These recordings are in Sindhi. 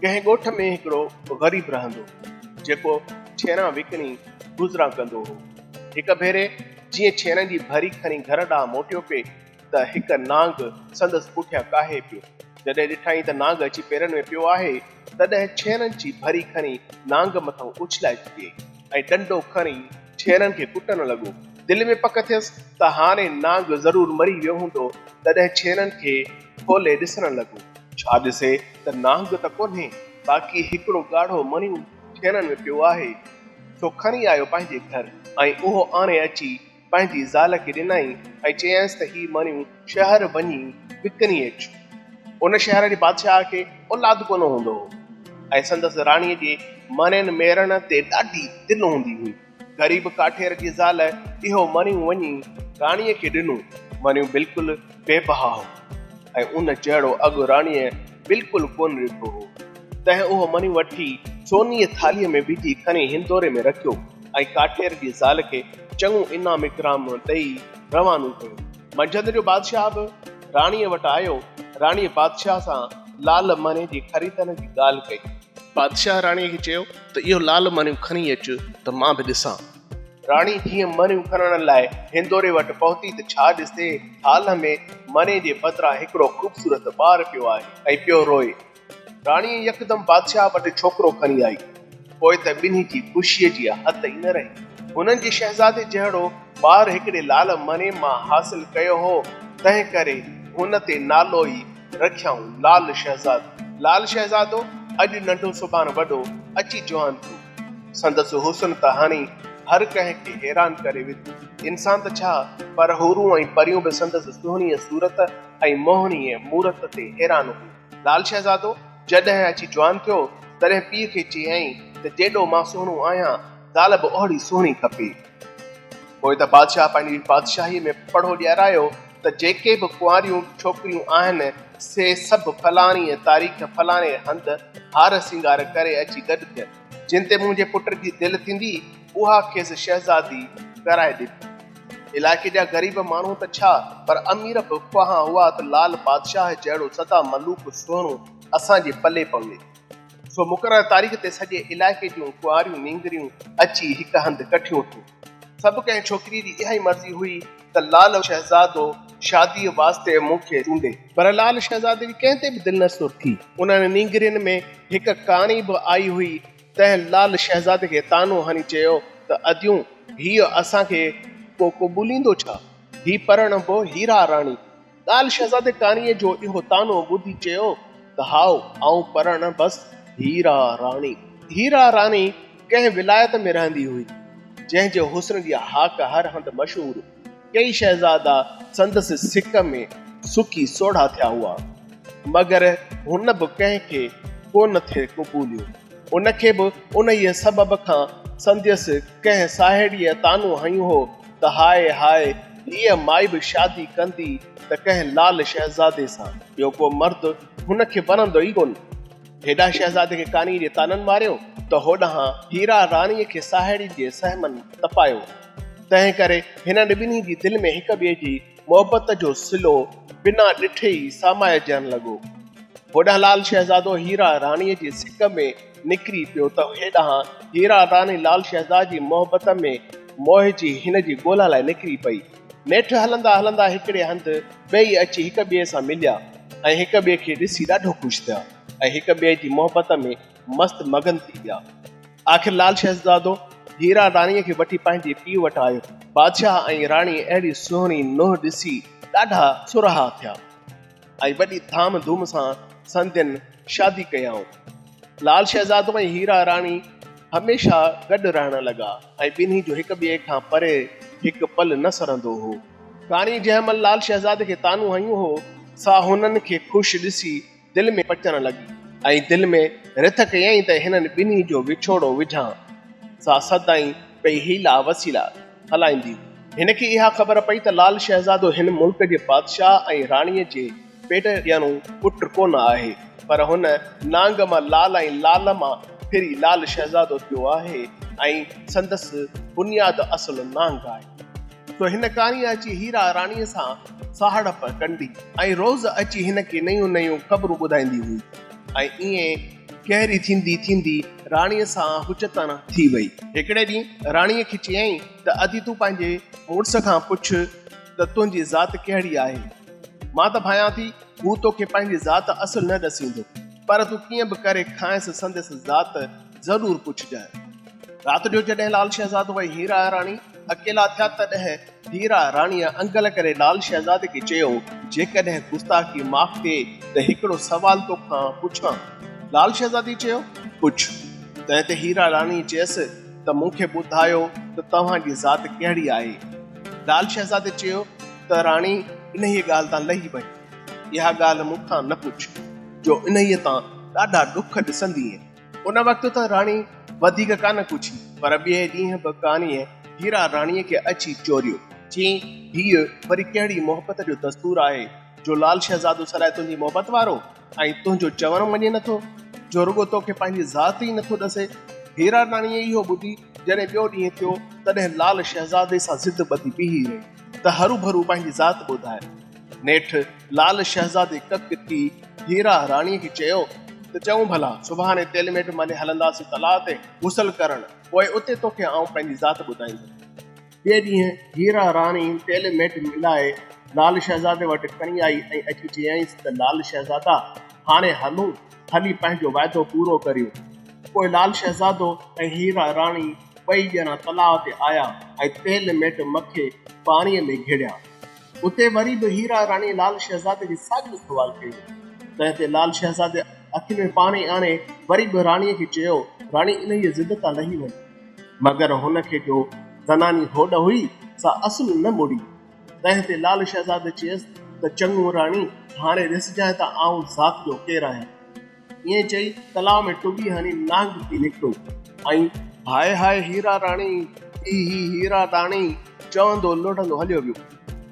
ڪنهن ڳوٺ ۾ هڪڙو غريب رهندو هو، جيڪو ڇيران وڪڻي گذران ڪندو هو. هڪ ڀيري جيئن ڇيرن جي ڀري کڻي گهر ڏانهن موٽيو پي ته هڪ نانگ سندس پٺيان ڪاهي پيو. جڏهن ڏٺائين ته نانگ اچي پيرن ۾ پيو آهي، تڏهن ڇيرن جي ڀري کڻي نانگ مٿان اڇلائي ڇڏيائين. ۽ ڏنڊو کڻي ڇيرن کي ڪٽڻ لڳو. دل ۾ پڪ ٿيس ته هاڻي نانگ ضرور مري ويو هوندو، تڏهن ڇيرن کي کولي ڏسڻ لڳو. ڇا ڏسي ته نانگ ته ڪونهي، باقي هڪڙو ڳاڙهو مڻيون ڇيرن ۾ پيو آهي، سو کڻي آيو پنهنجي گهر ۽ اهو آڻي اچي پنهنجي زال کي ڏنائين ۽ چيائينس ته هي مڻيون شهر وڃي وڪڻي اچ. ان شهر جي بادشاهه کي اولاد ڪونه هوندو هو ۽ سندس راڻيء جي مڻين ميڙڻ تي ڏاڍي دل هوندي هئي. غريب ڪاٺير جي زال اهو مڻيون وڃي راڻيء کي ڏنو. مڻيون بلڪل بي بها هو ۽ ان جهڙو اگهه راڻيء بلڪل ڪونه ڏٺو هو. تنهن اهو مڻيون وٺي سونيء ٿالهيء ۾ وجهي کڻي هندوري ۾ رکيو. ۽ ڪاٺير جي زال کي چڱو انعام اڪرام ڏئي روانو ڪيو. منجهند جو بادشاهه به راڻيء وٽ آيو. راڻيء بادشاهه سان لال مهني جي خريدن جي ڳالهه ڪئي. بادشاهه راڻيء کي چيو ته اهو لال مهنيون کڻي اچ ته مان به ڏسان. راڻي جيئن مهنيون کڻڻ لاء هندوري وٽ پهتي ته ڇا ڏسي هال ۾ مهني جي بدران هڪڙو خوبصورت ٻار پيو آهي ۽ پيو روئي. راڻيء يڪدم بادشاهه وٽ ڇوڪرو کڻي آئي، پوء ته ٻنهي جي خوشيء جي حد ئي نه رهي. هنن جي شهزادي جهڙو ٻار هڪڙي لعل مريم مان حاصل ڪيو هو، تنهن ڪري هن تي نالو ئي رکيائون لعل شهزادو. لعل شهزادو اڄ ننڍو سڀان وڏو، اچي جوان ٿيو. سندس حسن ته هڻي هر ڪنهن کي حيران ڪري وڌو. انسان ته ڇا، پر حورون ۽ پريون به سندس سهڻيء صورت ۽ موهڻيء مورت تي حيران هيون. لال شهزادو جڏهن اچي جوان ٿيو، تڏهن پيء کي چيائين ته جيڏو مان سهڻو آهيان، زال به اوهڙي سهڻي کپي. پوء ته بادشاهه پنهنجي بادشاهيء ۾ پڙهو ڏيارايو ته جيڪي به ڪنواريون ڇوڪريون آهن، سي سڀ فلاڻيء تاريخ فلاڻي هنڌ هار سينگار ڪري اچي گڏ ٿين. جن تي منهنجي پٽ جي دل ٿيندي، اها کيس شهزادي پيارائي ڏني. علائقي جا غريب ماڻهو ته ڇا پر امير به خواهان هئا ته لال بادشاهه جهڙو سدا ملوڪ سهڻو اسان جي پلي پوي. سو مقرر تاريخ تي سڄي علائقي جون ڪنواريون نينگريون اچي هڪ هنڌ ڪٺيون ٿيون. سڀ ڪنهن ڇوڪري جي اها ئي مرضي هئي ته لال شهزادو شاديء واسطي مون کي چونڊي. پر لال شهزادي جي ڪنهن تي به دل نه سور ٿي. انهن نينگرين ۾ هڪ ڪاڻي به آئي هئي تنهن لعل شهزادي کي طعنو هڻي چيو ته اديون هيء اسان کي ڪو قبوليندو ڇا؟ هي پرڻبو هيرا راڻي؟ لعل شهزادي ڪاڻيء جو اهو طعنو ٻڌي چيو ته هائو، آئون پرڻبس هيرا راڻي. هيرا راڻي ڪنهن ولايت ۾ رهندي هئي، جنهن جي حسن جي هاڪ هر هنڌ مشهور هئي. ڪيئي شهزادا سندس سڪ ۾ سڪي سوڙها ٿيا هئا، مگر هن به ڪنهن کي ڪو نه ٿي قبوليو. ان کي به انهيء سبب کان سندس ڪنهن ساهيڙيء طعنو هنيو هو ته هاء هاء، هيء مائي به شادي ڪندي ته ڪنهن لعل شهزادي سان. ٻيو ڪو مرد هن کي وڻندو ئي ڪونه. هيڏانهن شهزادي کي ڪانيء جي طعنن ماريو ته هوڏانهن هيرا راڻيء کي ساهيڙين جي سهمن تپايو. تنهن ڪري هنن ٻنهي جي دل ۾ هڪ ٻئي جي محبت جو سلو بنا ڏٺي ئي سامائجڻ لڳو. هوڏانهن لال شهزادو هيرا راڻيء جي سڪ ۾ نڪري پيو ته هيڏانهن هيرا راڻي لال شهزاد جي محبت ۾ موهجي هن جي ڳولا لاء نڪري پئي. نيٺ هلندا هلندا هڪڙي هنڌ ٻئي اچي هڪ ٻئي سان مليا ۽ هڪ ٻئي کي ڏسي ڏاڍو خوش ٿيا ۽ هڪ ٻئي جي محبت ۾ مست مگن ٿي ويا. آخر لال شهزادو هيرا راڻيء کي وٺي پنهنجي پيء وٽ آيو. بادشاهه ۽ راڻي اهڙي سهڻي نوح ڏسي ڏاڍا سرها ٿيا ۽ وڏي ڌام ڌوم سان سندين شادي ڪيائون. لال شهزادو ۽ هيرا راڻي هميشه گڏ رهڻ لڳا ۽ ٻنهي جو هڪ ٻئي کان پري هڪ پل نه سرندو هو. راڻي جنهن مهل لال شهزادي کي طعنو هنيون هو، سا هنن کي خوش ڏسي دل ۾ پچڻ لڳي ۽ دل ۾ رٿ ڪيائين ته هنن ٻنهي جو وڇوڙو وجهان. سا سدائين پئي حيلا وسيلا هلائيندي هئي. هن کي اها خبر پئي ته لال شهزادو هن ملڪ جي بادشاهه ۽ راڻيء جي پيٽ ڄڻو پٽ ڪونه آهي، پر هن نانگ مان لال ۽ لال مان ڦري لال شهزادو ٿيو آهي ۽ سندس بنياد اصل نانگ آهي. تو هن ڪاڻيء اچي هيرا راڻيء سان ساهڙپ ڪندي ۽ روز اچي هن کي نيون نيون خبرون ٻڌائيندي هئي ۽ ائين ڪهري ٿيندي ٿيندي راڻيء سان هچتڻ ٿي وئي. هڪڙي ڏينهن راڻيء کي چيائين ته ادي تون پنهنجي مڙس کان پڇ ته تنهنجي ذات ڪهڙي آهي؟ مان ته ڀانيان ٿي هو توکي پنهنجي ذات اصل نه ڏسيندو پر تون ڪيئن به ڪري کانئس سندس ذات ضرور پڇجانء. رات جو جڏهن لال شهزادو ۽ هيرا راڻي اڪيلا ٿيا تڏهن هيرا راڻيء انگل ڪري لال شهزادي کي چيو، جيڪڏهن گستاخي معاف ٿئي ته هڪڙو سوال تو کان پڇان. لال شهزادي چيو، پڇ. تنهن تي هيرا راڻي چيس ته مون کي ٻڌايو ته توهان جي ذات ڪهڙي آهي؟ لال شهزادي چيو ته راڻي انهيء ڳالهه تان لهي وڃ. اها ڳالهه مون کان نه پڇ، جو انهيء تان ڏاڍا ڏک ڏسندينء. ان وقت ته راڻي وڌيڪ ڪانه ڪڇي پر ٻئي ڏينهن به ڪانيء هيرا راڻيء کي اچي چوريو. چيائين، هيء وري ڪهڙي محبت جو دستور آهي جو لال شهزادو سدائين تنهنجي محبت وارو ۽ تنهنجو چوڻ مڃي نٿو، جو رڳو توکي پنهنجي ذات ئي نٿو ڏسي. هيرا راڻيء اهو ٻڌي جڏهن ٻيو ڏينهن ٿيو، تڏهن لال شهزادي سان ضد ٻڌي بيهي رهي ته هروڀرو پنهنجي ذات ٻڌائي. نيٺ لال شهزادي ڪڪ ٿي هيرا راڻيء کي چيو ته چئون ڀلا سڀاڻي تيل ميٽ ملي هلنداسين تلاء تي غسل ڪرڻ، پوء اتي توکي آئون پنهنجي ذات ٻڌائيندس. ٻئي ڏينهن هيرا راڻي تيل ميٽ ملائي لال شهزادي وٽ کڻي آئي ۽ اچي چيائينس ته لال شهزادا هاڻي هلون، هلي پنهنجو وعدو پورو ڪريون. پوء لال شهزادو ۽ هيرا راڻي ٻئي ڄڻا تلاء تي آيا ۽ تيل ميٽ مکي پاڻيء ۾ گهڙيا. اتي وري به هيرا راڻيء لال شهزادي کي ساڳيو سوال ڪيو. تنهن تي لال شهزادي اکين ۾ پاڻي آڻي وري به راڻيء کي چيو، راڻي انهيء ضد تان لهي وڃ. مگر هن کي جو زناني هوڏ هئي، سا اصل نه مڙي. تنهن تي لال شهزادي چيس ته چڱو راڻي، هاڻي ڏسجانء ته آئون ذات جو ڪير آهيان. ائين چئي تلاء ۾ ٽٻي هڻي نانگ ٿي نڪتو ۽ هاء هاء هيرا راڻي هي هي هيرا راڻي چوندو لڙهندو هليو ويو.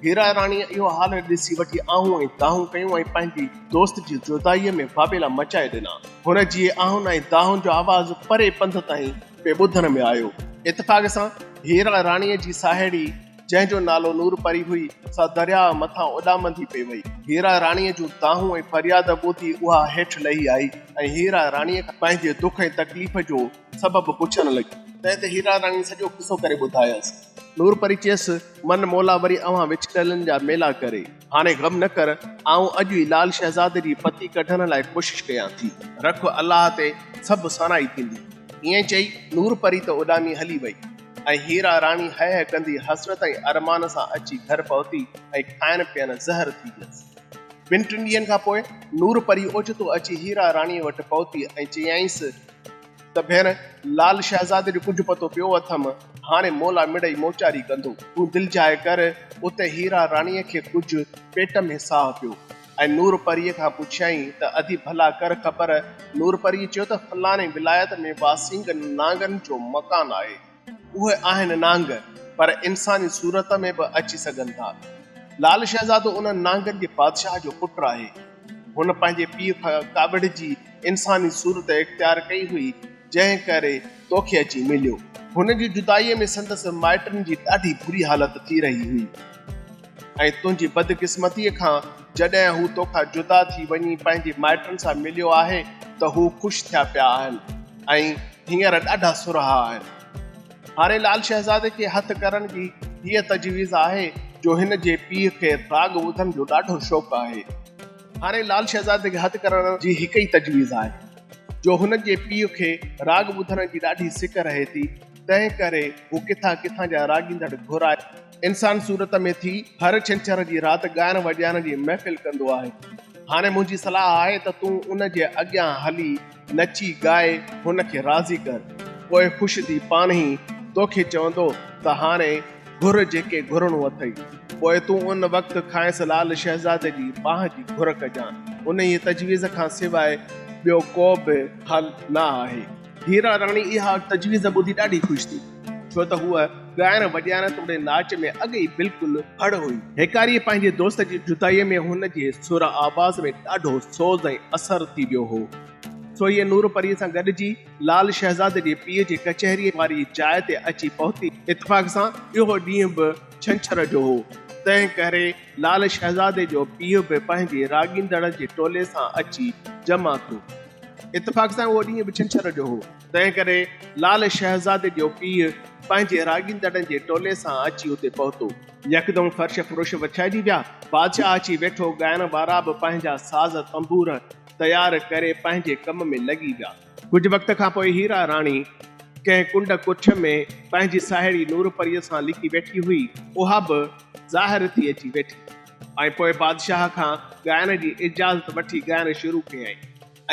هيرا راڻيء اهو حال ڏسي وٺي آهون ۽ دانهون ڪيون ۽ پنهنجي دوست جي جدائيء ۾ واويلا مچائي ڏنا. هن جي آهن ۽ دانهن جو آواز پري پنڌ تائين پئي ٻڌڻ ۾ آيو. اتفاق سان هيرا راڻيء جي ساهيڙي جنهن جو نالو نور پري هئي، سا درياهه مٿان اڏامندي پئي وئي. هيرا راڻيء جون دانهون ۽ فرياد ٻڌي اها هيٺ لهي آئي ۽ هيرا راڻيء کان پنهنجي دک ۽ تڪليف جو سبب پڇڻ لڳي. تنهن تي هيرا راڻيء سڄو قصو ڪري ٻڌايس. نور پري چيس، من مولا وري اوهان وڇڙيلن جا ميلا ڪري. هاڻي غم نه ڪر، آئون اڄ ئي لال شهزادي جي پتي ڪڍڻ لاء ڪوشش ڪيان ٿي. رک الله تي سڀ سانائي ٿيندي. ائين چئي نور پري ته اڏامي هلي وئي. ۽ هيرا راڻي هه هه ڪندي حسرت ۽ ارمان سان اچي گهر پهتي ۽ کائڻ پيئڻ زهر ٿي ويس. ٻن ٽن ڏينهن کان پوء نور پري اوچتو اچي هيرا راڻيء وٽ پهتي ۽ چيائينس ته ڀيڻ لال شهزادي جو ڪجهه پتو پيو اٿم، هاڻي مولا مڙئي موچاري ڪندو، تون دلجاء ڪر. اتي هيرا راڻيء کي ڪجهه پيٽ ۾ ساهه پيو. ۽ نور پريء کان پڇيائين ته ادي ڀلا ڪر خبر. نور پريء چيو ته فلاڻي ولايت ۾ واسينگ نانگن جو مڪان آهي. اهي آهن نانگ، پر انساني صورت ۾ به اچي سگهن ٿا. لال شهزادو انهن نانگن جي بادشاهه جو پٽ آهي. هن پنهنجي پيء کان ڪاوڙجي انساني صورت اختيار ڪئي هئي. جنهن ڪري توکي اچي مليو. هن جي جدائيء ۾ سندس مائٽن جي ڏاڍي بري حالت ٿي رهي هئي ۽ تنهنجي بدقسمتيء کان جڏهن هو توکان جدا ٿي وڃي پنهنجي مائٽن سان مليو آهي ته هو خوش ٿيا پيا آهن ۽ هينئر ڏاڍا سرها آهن. هاڻي لال شهزادي کي هٿ ڪرڻ جي هيء تجويز آهي جو هن جي پيء کي راڳ ٻڌڻ جو ڏاڍو شوق آهي. هاڻي لال شهزادي کي هٿ ڪرڻ جي هڪ ئي تجويز آهي جو هن جي پيء کي راڳ ٻڌڻ جي ڏاڍي سڪ رهي ٿي، تنهن ڪري هو ڪٿان ڪٿان جا راڳيندڙ گهرائي، انسان صورت ۾ ٿي، هر ڇنڇر جي رات ڳائڻ وڄائڻ جي محفل ڪندو آهي. هاڻي منهنجي صلاح آهي ته تون ان جي اڳيان هلي. نچي ڳائي هن کي راضي ڪر، پوء خوش ٿي پاڻهي ئي توکي چوندو ته هاڻي گهر جيڪي گهرڻو اٿئي. پوء تون ان وقت کانئس لال شهزادي جي ٻانهن جي گهر ڪجان. انهيء تجويز کان سواء ٻيو ڪو به حل نه آهي. هيرا راڻي اها تجويز ٻڌي ڏاڍي خوش ٿي. ڇو ته هوء ڳائڻ وڄائڻ توڙي ناچ ۾ اڳ ئي بلڪل هڙ هئي. هيڪاريء پنهنجي دوست جي جدائيء ۾ هن جي سر آواز ۾ ڏاڍو سوز ۽ اثر ٿي ويو هو. سو هيء نور پريء سان گڏجي لال شهزاد جي پيء جي ڪچهريء واري جاء تي اچي پهتي. اتفاق سان اهو ڏينهن به ڇنڇر جو هو، تنهن ڪري لال شهزادي جو پيء به پنهنجي راڳيندڙن جي ٽولي سان اچي جمع ٿيو. اتفاق سان اهو ڏينهن به ڇنڇر جو هو. تنهن ڪري لعل شهزادي جو پيء پنهنجي راڳيندڙن جي ٽولي سان اچي اتي پهتو. يڪدم فرش فروش وڇائجي ويا. بادشاهه اچي ويٺو. ڳائڻ وارا به پنهنجا ساز تنبور تيار ڪري پنهنجي ڪم ۾ لڳي ويا. ڪجهه وقت کان پوء هيرا راڻي ڪنهن ڪنڊ ڪٺ ۾ پنهنجي ساهيڙي نور پريء سان لڪي ويٺي هئي. اها به ظاهر ٿي اچي ويٺي ۽ پوء بادشاهه کان ڳائڻ جي اجازت وٺي ڳائڻ شروع ڪيائين.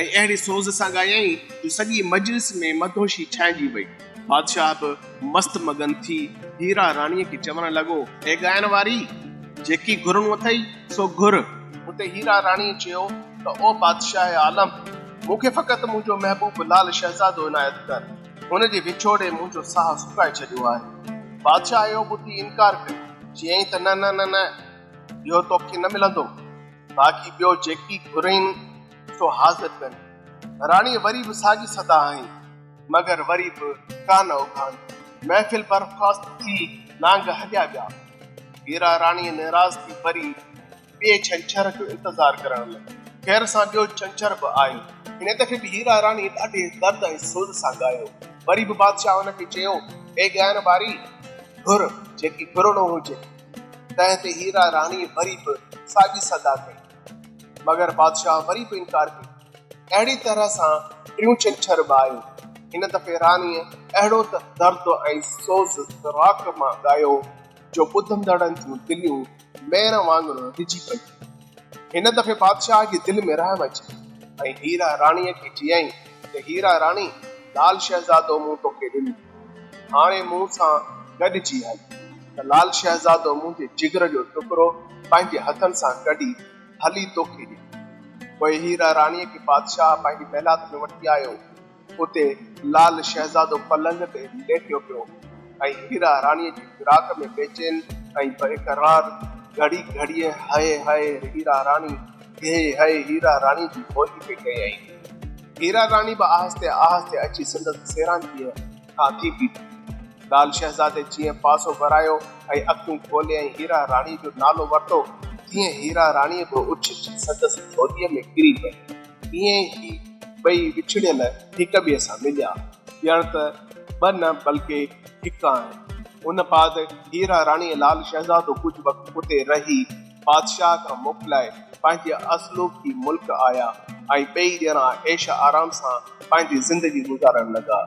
۽ اهڙي سوز سان ڳايائين جو سڄي مجلس ۾ مدهوشي ڇانئجي وئي. بادشاهه به مست مگن ٿي هيرا راڻيء کي چوڻ لڳو، اي ڳائڻ واري! جيڪي گهرڻو اٿئي سو گهر. اتي هيرا راڻيء چيو ته او بادشاهه عالم! مون کي فقط منهنجو محبوب لال شهزادو عنايت ڪر. هن جي وڇوڙي منهنجو ساهه سڪائي ڇڏيو آهي. بادشاهه اهو ٻڌي انڪار ڪيو. چيائين ته نه نه نه نه! اهو توکي نه ملندو. باقي ٻيو جيڪي گهرين سو حاضر ڪن. راڻيء وري به ساڳي صدا هنئي، مگر وري به ڪا نه اگهانڌي. محفل برخواست ٿي، نانگ هليا ويا. هيرا راڻيء نيراض ٿي وري ٻئي ڇنڇر جو انتظار ڪرڻ لڳي. خير سان ٻيو ڇنڇر به آيو. هن دفعي به هيرا راڻيء ڏاڍي درد ۽ سوز سان ڳايو. وري به بادشاهه هن کي چيو، اي ڳائڻ واري! گهر جيڪي گهرڻو هجي. تنهن تي هيرا راڻيء وري به ساڳي صدا ڪئي. مگر بادشاهه وري به انڪار ڪيو. اهڙي طرح سان ٽيون ڇنڇر به آيو. هن دفعي راڻيء اهڙو ته درد ۽ سوز فراق مان ڳايو جو ٻڌندڙن جون دليون ميڻ وانگر رجي پيون. هن دفعي بادشاهه جي دل ۾ رحم اچي ويو ۽ هيرا راڻيء کي چيائين ته هيرا راڻي لال شهزادو مون توکي ڏنو. هاڻي مون سان گڏجي هل. ته لال شهزادو منهنجي جگر جو ٽڪرو پنهنجي هٿن سان ڪڍي هلي توکي ڏيان. پوء هيرا راڻيء کي بادشاهه پنهنجي محلات ۾ وٺي آيو. اتي لال شهزادو پلنگ تي ليٽيو پيو هو ۽ هيرا راڻيء جي فراق ۾ بيچين ۽ بي قرار گهڙي گهڙيء هئي هئي هيرا راڻي هي هيء هيرا راڻي جي ڀوڄ پئي ڪيائين. هيرا راڻي به آهستي آهستي اچي سندس سيرانديء کان ٿي بيٺي. لال شهزادي جيئن پاسو ورايو ۽ اکيون کوليائين هيرا راڻي جو نالو ورتو، تيئن هيرا راڻي به اڇلجي سندس جهوليء ۾ ڪري پئي. ايئن ئي هي ٻئي وڇڙيل هڪ ٻئي سان مليا. ڄڻ ته ٻه نه بلڪه هڪ آهن. ان بعد هيرا راڻي ۽ لال شهزادو ڪجهه وقت اتي رهي. بادشاهه کان موڪلائي پنهنجي اصلوڪي ملڪ آيا ۽ ٻئي ڄڻا عيش آرام سان پنهنجي زندگي گذارڻ لڳا.